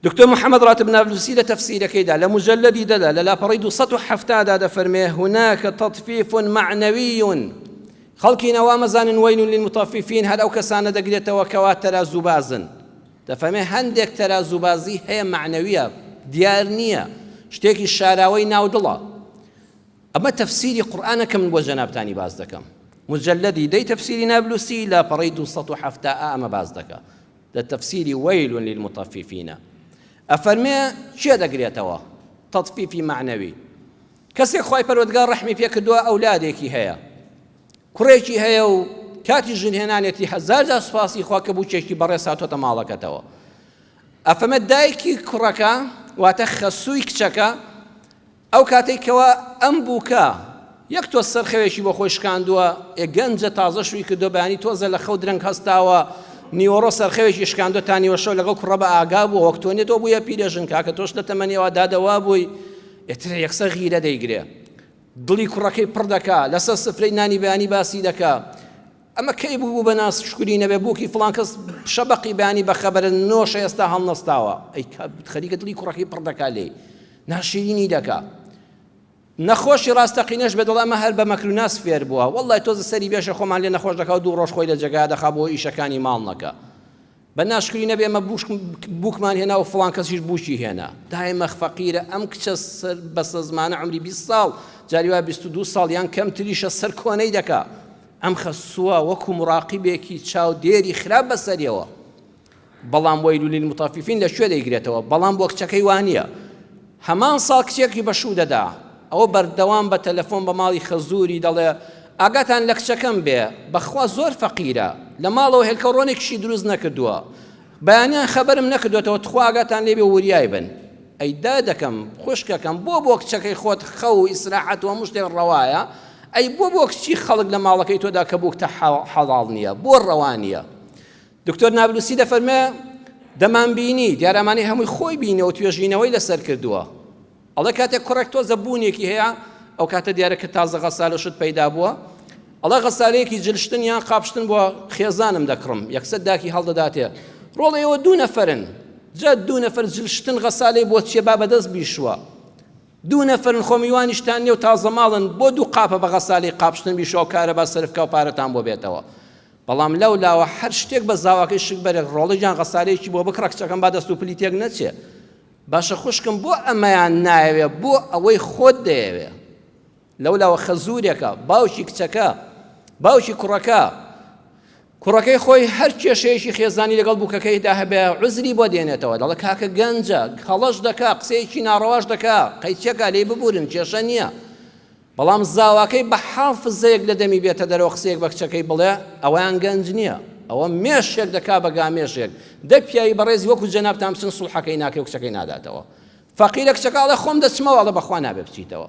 دکتۆر محمد راتب نابلسی لە تەفسیرەکەیدا لە مجلدی دەدا لە لاپەڕی 270 دا دەفەرمێ هناک تطفیف معنوی خەڵکی نەوا مەزانن وەیل للمطففین هەر ئەو کەسانە دەگرێتەوە کەوا تەرازوو بازن دەفەرمێ هەندێک تەرازوو بازی هەیە معنویە دیار نییە شتێکی شاراوەی ناودڵە ئەمە تەفسیری قورآانە کە من بۆ جەنابتانی باز دەکەم مجلدی دەی تەفسیری نابلوسی لا پەڕی 270 ئەمە باز دەکە لە تەفسیری وەیل للمطففینە ئەفەرمێ کێ دەگرێتەوە تەطفیفی مەعنەوی کەسێک خوای پەروەردگار ڕەحمی پێ کردووە ئەولادێکی هەیە کوڕێکی هەیە و کاتی ژنهێنانێتی هەزار جار سوپاسی خوا کە بووکێکی بەڕێز هاتۆتە ماڵەکەتەوە ئەفەمە دایکی کوڕەکە واتە خەسووی کچەکە ئەو کاتەی کەوا ئەم بووکە یەک تۆز سەرخەوێکی بۆ خۆی شکاندووە، ئێ گەنجە تازە شووی کردووە، بەیانی تۆزە لە خەو درەنگ هەستاوە، نیوەڕۆ سەرخەوێکی شکاندووە تا نیوە شەو لەگەڵ کوڕە بە ئاگا بووە، وەک تۆ نیە تۆ بوویە پیرەژن، کاکە تۆش لە تەمەنی ئەوا دادە وا بووی، ئیتر یەکسەر غیرە دەیگرێ، دڵی کوڕەکەی پڕ دەکا، لەسەر سفرەی نانی بەیانی باسی دەکا، ئەمە کەی بوو بوو بە ناز شکری نەبێ بووکی فڵان کەس شەبەقی بانی بە خەبەرە نۆشە ئێستا هەڵنەستاوە ئەی خەریکە دڵی کوڕەکەی پڕ دەکا لێی ناشیرینی دەکا نەخۆشی ڕاستەقینەش بێ دڵ ئەمە هەر بە مەکر و ناز فێر بووە وەڵڵای تۆزە سەری بێشە خۆمان لێ نەخۆش دەکا و دوو ڕۆژ خۆی لە جێگا دەخا بۆ ئیشەکانی ماڵ نەکا بە ناشکری نەبێ ئێمە بووکم بووکمان هێنا و فڵان کەسیش بووکی هێنا. دای مەخ فەقیرە ئەم کچە سەر بەسەزمانە عومری بیست ساڵ جاری وا بیست و دوو ساڵ یان کەمتریشە سەر کۆنەی دەکا. ئەم خەسووە وەکوو مڕاقیبێکی چاودێری خراپ بە سەریەوە. بەڵام وەیلولیلموتەفیفین لە کوێ دەیگرێتەوە؟ بەڵام بۆ کچەکەی وا نییە. هەمان ساڵ کچێکی بە شوو دەدا. ئەو بەردەوام بە تەلەفۆن بە ماڵی خەزووری دەڵێ، ئاگاتان لە کچەکەم بێ، بەخوا زۆر فەقیرە، لە ماڵەوە هێلکەو ڕۆنێکیشی دروست نەکردووە. بەیانیان خەبەرم نەکردۆتەوە، تخوا ئاگاتان لێ بێ و وریای بن. ئەی دادەکەم، خوشکەکەم، بۆ بۆ کچەکەی خۆت خەو و ئیسراحەت و هەموو شتێک ڕەوایە، ئەی بۆ بۆ کچی خەڵک لە ماڵەکەی تۆدا کە بووکتە حەڵاڵ نییە، بۆ ڕەوا نییە؟ دکتۆر نابلوسی دەفەرمێ دەمانبینی دیارامانی هەمووی خۆی بینەوە توێژینەوەی لەسەر کردووە ئەڵێ کاتێک کوڕێک تۆزە بوونێکی هەیە ئەو کاتە دیارە کە تازە غەسال و شت پەیدا بووە ئەڵێ غەسالەیەکی جلشتن یان قاپشتن بۆ خێزانم دەکڕم یەکسەر داکی هەڵدەداتێ ڕۆڵە ئێوە دوو نەفرن جا دوو نەفر جلشتن غەسالەی بۆ چیە با بەدەست بیشوە دوو نەفرن خۆمیوانیشتان نێو تازە ماڵن بۆ دوو قاپە بە غەسالی قاپشتن بیشەوە کارەبا سەرفکە و پارەتان بۆ بێتەوە بەڵام لەو لاوە هەر شتێک بە زاواکەی شک بەرێک ڕۆڵێک یان غەسالەیەکی بۆ بکڕە کچەکەم با دەست و پلی تێک نەچێ باشە خوشکم بۆ ئەمەیان نایەوێ بۆ ئەوەی خۆت دەیەوێ لەو لاوە خەزورێکە باوکی کچەکە باوکی کوڕەکە کوڕەکەی خۆی هەر کێشەیەکی خێزانی لەگەڵ بووکەکەیدا هەبێ عزری بۆ دێنێتەوە دەڵە کاکە گەنجە هەڵەش دەکا قسەیەکی ناڕەواش دەکا قەیچەکە لێی ببورن کێشە نییە بەڵام زاواکەی بە حافزەیەک لە دەمی بێتە دەرەوە قسەیەک بە کچەکەی بڵێ ئەوەیان گەنج نییە ئەوە مێشێک دەکا بە گامێشێک دە پیاوی بەڕێزی وەکو جەنابتان بچن سوڵحەکەی ناکەی و کچەکەی ناداتەوە فەقیرە کچەکە ئەڵێ خۆم دەچمەوە ئەڵێ بەخوا نابێ بچیتەوە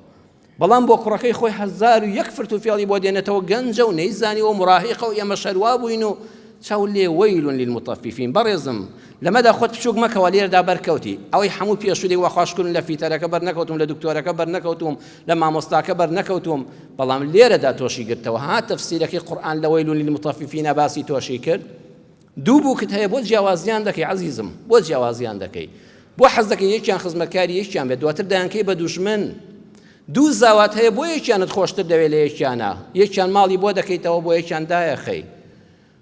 بەڵام بۆ کوڕەکەی خۆی هەزار و یەک فرت و فێڵی بۆ دێنێتەوە گەنجە و نەیزانی و مراهیقە و ئێمە شەروا بووین و چاو لێ وەیلون للمطففین بەڕێزم لەمەدا خۆت بچووک مەکەوە لێردا بەرکەوتی ئەوەی هەموو پێشولی وەخواشکردن لە فیتەرەکە بەرنەکەوتم لە دکتۆرەکە بەرنەکەوتوم لە مامۆستاکە بەرنەکەوتووم بەڵام لێرەدا تۆشی گرتەوە ها تەفسیرەکەی قورآن لە وەیل للمطففین باسی تۆشی کرد دوو بووکت هەیە بۆ جیاوازیان دەکەی عزیزم بۆ جیاوازیان دەکەی بۆ حەز دەکەی یەکیان خزمەتکاری یەکیان بێت دواتر دایانکەی بە دوژمن دوو زاوات هەیە بۆ یەکیانت خۆشتر دەوێت لە یەکیانە یەکیان ماڵی بۆ دەکەیتەوە بۆ یەکیان دایەخەی